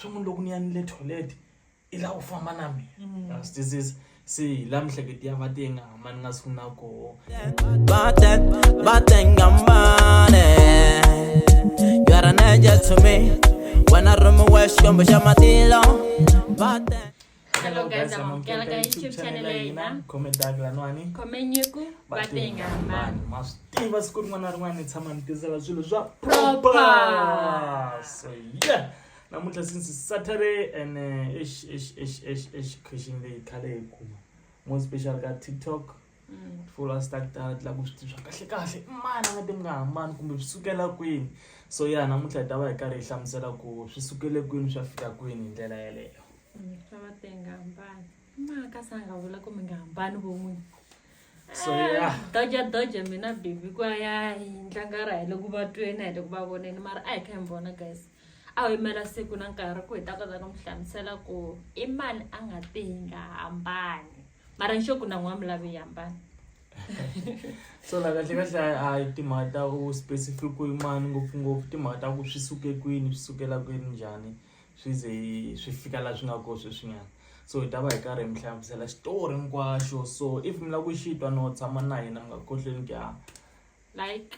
swa munhu loko ni ya ni le toilet i lava ku famba na mina swi twisisa se hi la mihleketi ya va tiye nga hama ni nga siku na koho wena rumi wa xikwembu xa matilo Hello guys, I'm on Kialaka YouTube channel ya ina. Comment dag la nwani. Comment nyeku batenga man. Mastiva siku rin'wana rin'wana tshama nitizela swilo swa proper. So yeah. Namuntlha since Saturday and uh, ish ish ish ish ish khishing leyi khale hi kuma. More special ka TikTok. full a ndzi ta ta ta ku swi tiva kahle kahle i mani a nga te mi nga hambani kumbe swi sukela kwini so ya namuntlha hi ta va hi karhi hi hlamusela ku swi sukele kwini swi ya fika kwini hi ndlela yeleyo fa va te nga hambani maka sa nga vula ku mi nga hambani vo n'wini so ya doja doja mina bibi ku a ya hi ntlangara hi le ku va tweni a hi le ku va voneni mara a hi kha hi mi vona guys a ho yimela siku na nkarhi ku hi ta kota ku mi hlamusela ku i mani a nga te hi nga hambani mara nxo ku na n'wami lave yi hambana so la kahle kahle a hi timhaka ta u specific ku yimani ngopfungopfu timhaka ta ku swi suke kwini swi sukela kwini njhani swi ze swi fika laha swi nga kona sweswinyana so hi ta va hi karhi hi mi hlamusela xitori hinkwaxo so if mi lava ku xitwa no tshama na hina mi nga khohlweni ku ya like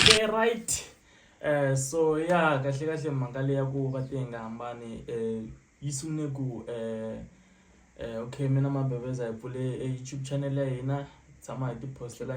Okay right eh so ya kahle kahle mhaka leyi ya ku va ti nga hambani eh yi sungule ku eh eh okay mina mabeveza hi pfule e YouTube channel ya hina hi tshama hi ti post-ela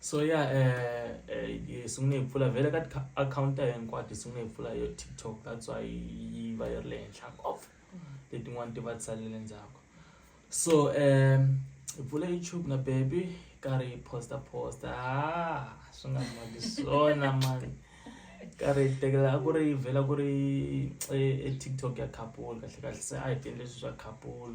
so ya eh, eh, eh sungule hi pfula vhele ka akhawunti ya hinkwato hi sungule hi pfula yo tiktok that's why yi va yi ri le henhla ngopfu letin'wana ti va tsalele ndzhaku so um hi pfula youtube na baby hi karhi hi posta posta ah, swi nga maki swona mani karhi hi tekela a ku ri yi vhela ku ri e, e tiktok ya couple kahle kahle se a hi tiendle swilo swa couple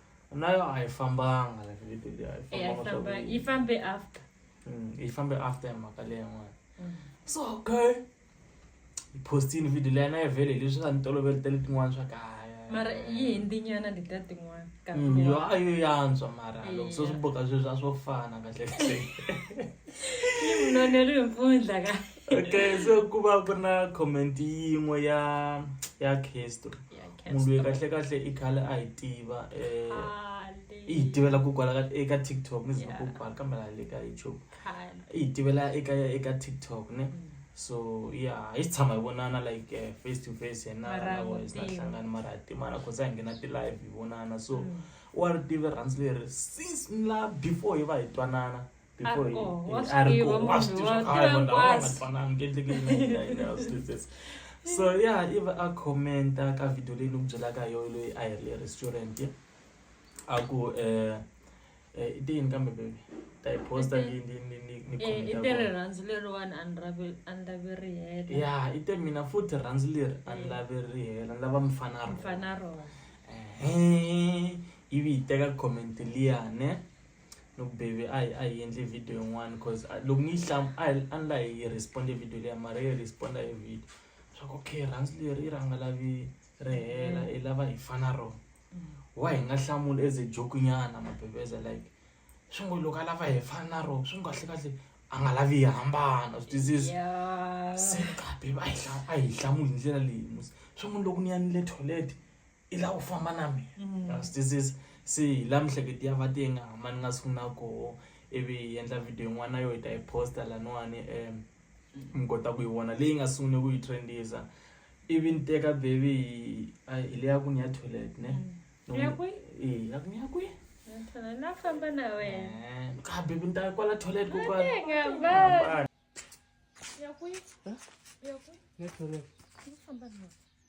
nayo haifambanga like literally Eh, haifambanga swa ifamba- ku- ifambe after Mm, yi fambe after ya mhaka leyi yin'wana Mm. so okay yi postini video leyi na yi vele leswi nga ni toloveli tele tin'wana swa kaya mara yi hindinyana leta tin'wana ka Mm, yo a yo yantswa mara loko se swi Yeah. boka sweswi a swo fana kahle kahle yi munonelo hi mpundla ka okay so ku va ku ri na comment yin'we ya ya castro munhu loyi kahle kahle i khale a hi tiva i hi tivela ku kwala ka eka TikTok ni zama ku kwala kambe la le ka YouTube i hi tivela eka eka TikTok ne mm. so ya hi tshama hi vonana like eh, face to face yena na voice na hlangana mara hi timana cause a hi nghena ti-live hi vonana so mm. wa ri tive rhandzi leri since la before hi va hi twanana so ya i va a commenta ka video leyi ni ku byelaka yo loyi a hi ri le restaurant a ku um eh, eh, i tiyini kambe baby ta yi posta ni ni ni ni ni eh, i te rirhandzu leriwani a ni lavi a ni lavi ri hela ya i te mina futhi rhandzu leri a ni eh. lavi ri hela ni lava mfana ro mfana ro ehe ivi yi teka comment liya ne Look baby, I I endle video in one cause I look me some I unlike he respond a video there, Maria respond a video. So okay, runs the riranga la vi rehela mm. elava hi fana ro. Mm. Why nga hlamula as a joke nyana mabebeza like swi ngo loko a lava hi fana ro swi ngo kahle kahle a nga lavi hi hambana swi twisisi se kabe a hi hlamuli hi ndlela leyi musi swi ngo loko ni yanile toilet i lava ku famba na mina wa swi twisisa se hi laha miehleketo ya va ti nga hambani nga siku na koho ivi hi endla video yin'wana yo hi ta yi posta laniwani um mi kota ku yi vona leyi nga sungule ku yi trendisa ivi ni teka baby hi a hi leya ku ni ya toilet ne Ni ya kwihi? Eh, ya ku ni ya kwihi Ngithanda nafamba na wena. Eh, ka baby ni ta kwala toilet ko kwala Ngiyabala. Yakwi. Yakwi. Ngifamba nawe.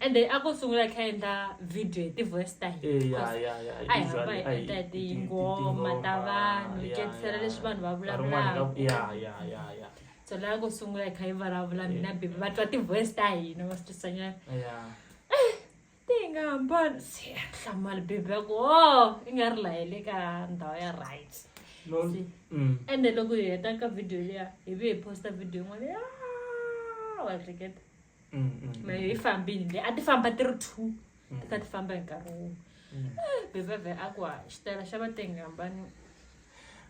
ende a ko sungula kha endla video hi ti-voice ta hina a hi hamba hi endla hi tingoma ta vanhu hi ketisela leswi vanhu va vulavulaka so la ko sungula hi kha hi vulavula mina bibi va twa ti-voice ta hina va swi twisanyana eh, ti nga hambani se hlamali bibi ya ku o oh, i nga ri lahele ka ndhawu ya right mm. ende loko hi heta ka video liya hi vi hi posta video yin'wana ya wa hleketa mm, mm, mm. mehe yi fambini le a ti famba ti ri two ti kha ti famba hi nkarhi wun'we eh, beveve a ku xitayela xa vatengi hambani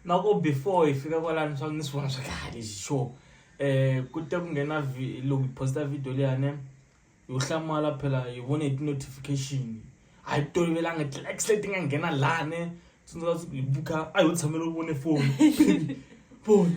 na ku before hi fika kwalani swa ni swi vona swa kahle lexi xo um eh, ku te ku nghena loko hi posta video leyane yo hlamala phela hi vone hi ti-notification a hi tolovelanga ti-likes leti nga nghena lani tsundzuka siku hi buka a hi yo tshamela u vone foni foni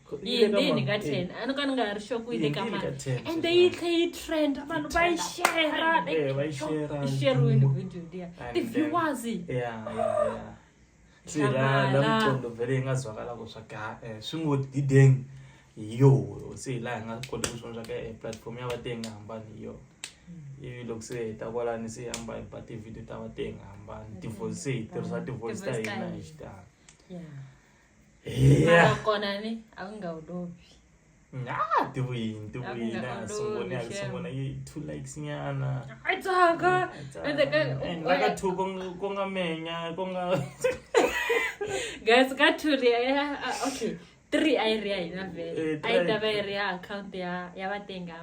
yindini ka ten a ni ka ni nga ha ri xoko yi le ka mani and then yi tlhe yi trend vanhu va yi shera yi sheriwini video liya ti-viewers swilalamqondo vele yi nga zwakala ku swa ka eh, swi ngo dideng yo se hi laha hi nga koti ku swona swa ka eh, platform ya vate yi nga hambani hi yo mm. ivi loko se hi ta kwalani se yi hamba hi ba ti-video ta vate yi nga hambani tivoice se hi tirhisa tivoice ta hina hi xitalo mara kona ni a ku nga wu lovi Ah, tiwini tiwini Akuna a sungone a ololi, sungone yi two likes nyana a tsaka ende ka And like a two kong- konga menya konga guys ka two ri ya ah, okay three a yi ri ya hina vele Eh, a yi ta three. va yi ri ya account ya ya vatenga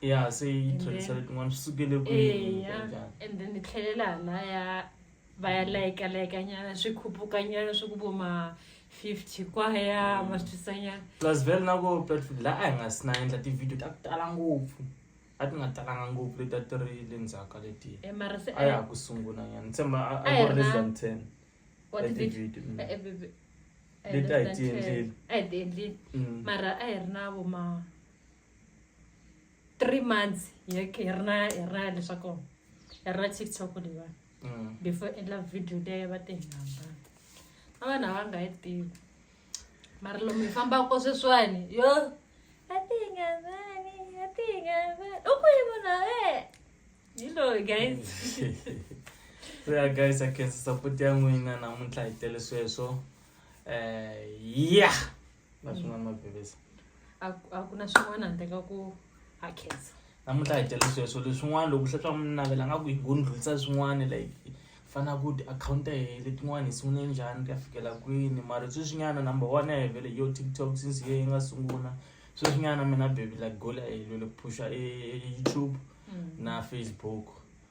ya se yi tlhelisela tin'wana swi sukele kwihi eya kanjhani and then ni tlhelela halaya va ya layika layika nyana swi khupuka nyana swi ku vo ma 50 kwaya ma swi twisa nyana plus vele na ko platform laha a hi nga si na endla tivhidiyo ta ku tala ngopfu a ti nga talanga ngopfu leti a ti ri le ndzhaku ka letiya e mara se a ya ha ku sungula nyana ni tshemba a- A a hi ku ri less ri na- than ten wa ya tivhidiyo tivhidiyo mm. Eh, baby. Eh, Leti a hi less than ti endleli. 10. a hi ti endleli Mm. mara a hi ri na vo ma three months hi ri hi ri na hi ri na leswaku hi ri na tiktok leyiwani Mm. before endla video leyi va ti hi hambana a vanhu a va nga yi tivi mara lomu hi fambaka sweswiwani yo a ti hi nga vani a ti hi nga vani u ku yi munhu e hi loyi guys so ya guys a khensa support ya n'wina namuntlha hi tele sweswo um ya na swin'wana mavhevesa a ku- a ku na swin'wana handle ka ku ha khensa namuntlha hi tele sweswo leswin'wana loko swi swa munhu navela nga ku hi ngo ndlulisa swin'wana like fana ku tiakhawunti ta hina letin'wana hi sungule njhani ka fikela kwini mara sweswinyana number one ya hevele yo tiktok since ye yi nga sungula sweswinyana mina baby like goal ya helele phusha e youtube na facebook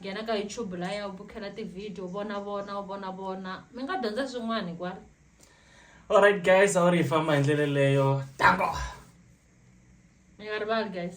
nghena ka youtube laya u bukhela tivhidiyo u vona vona u vona vona mi nga dyondza swin'wana hikwalo alright guys a wu ri hi famba hi ndlela leyo tango mi nga rivali guys